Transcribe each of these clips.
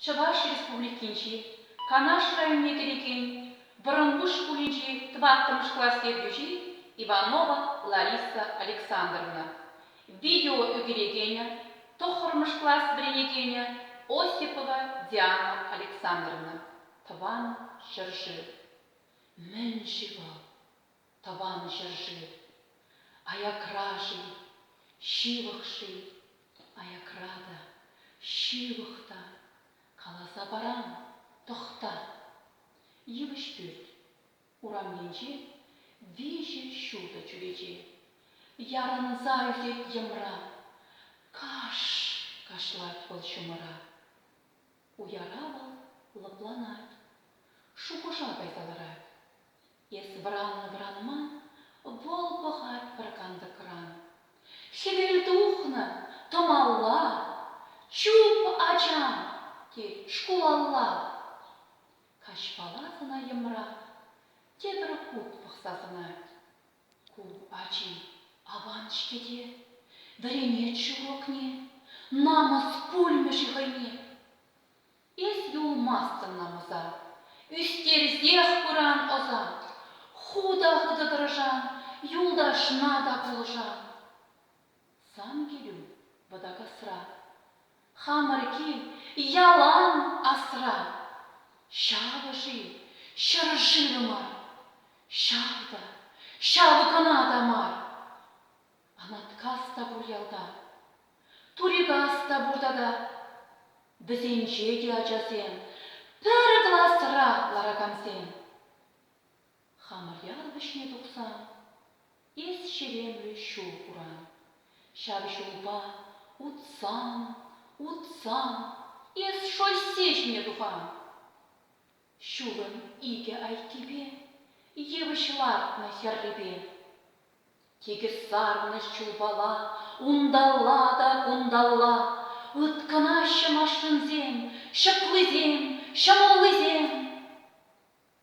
Чӑваш Республикинчи Канаш районне кӗрекен Вӑрӑмпуҫ шкулӗнчи тӑваттӑмӗш класс ертӳҫи Иванова Лариса Александровна, видео ӳкерекенӗ, тӑххӑрмӗш класс вӗренекенӗ Осипова Диана Александровна, тӑван ҫӗршыв. Мӗн-ши вӑл? Тӑван ҫӗр-ши? Аякра-ши? Ҫывӑх-ши? Аякра та, ҫывӑх та, каласа парам, тӑхта. Йывӑҫ пӳрт, урамӗнче виҫӗ ҫутӑ чӳрече. Ярӑнса ӳкет йӑмра. Каш! кашлать вӑл ҫумӑра. Уяра вӑл лӑпланать, шухӑша кайса ларать. Эс вӑраннӑ-вӑранман вӑл пӑхать пӗр кантӑкран. Хӗвел тухнӑ, тӑмалла, чуп, ача, тет шкулалла. Каҫпала сӑна йӑмра тепӗр хут пӑхса сӑнать. Ку ачи аван-ҫке те, вӗренет ҫурокне, намӑс пулмӗ-ши хӑйне? Эс юлмастӑн намӑса, ӳстерсех пыран ӑса, ху та хытӑ тӑрӑшан, юлташна та пулӑшан. Сан килӳ, Вӑтакасра. Хамӑр кил, ялан асра. Ҫавӑ-ши, ҫӗр-шывӗ мар. Ҫав та, ҫав кӑна та мар. Анаткас та пур ялта. Турикас та пур тата. Вӗсенче те ачасем, пӗр класра ларакансем. хамӑр ял вӗҫне тухсан, эс ҫеремлӗ ҫул куран. Ҫав ҫулпа, утсан, утсан, эс шоссе ҫине тухан. Ҫулӑн икӗ айккипе, йывӑҫ лартнӑ хӗррипе. Тикӗс сарнӑ ҫулпала унталла та кунталла ыткӑнаҫҫӗ машинсем, ҫӑклисем, ҫӑмӑллисем.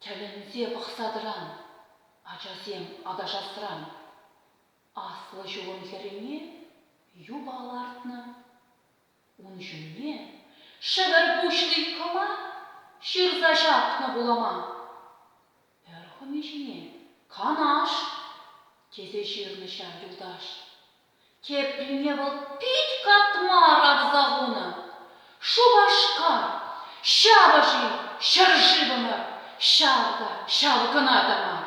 Тӗлӗнсе пӑхса тӑран, ачасем аташасран. Аслӑ ҫулӑм хӗррине юпа лартнӑ. Ун ҫумне шӗвӗр пуҫли кӑмак ҫырса ҫапнӑ пулӑма. Пӗр хӑми ҫине Канаш! тесе ҫырнӑ ҫав юлташ. Теприне вӑл пит катма ракса хунӑ. Шупашкар, ҫапӑҫи ҫӗршывӑмӑр, ҫав та ҫав кӑна та мар.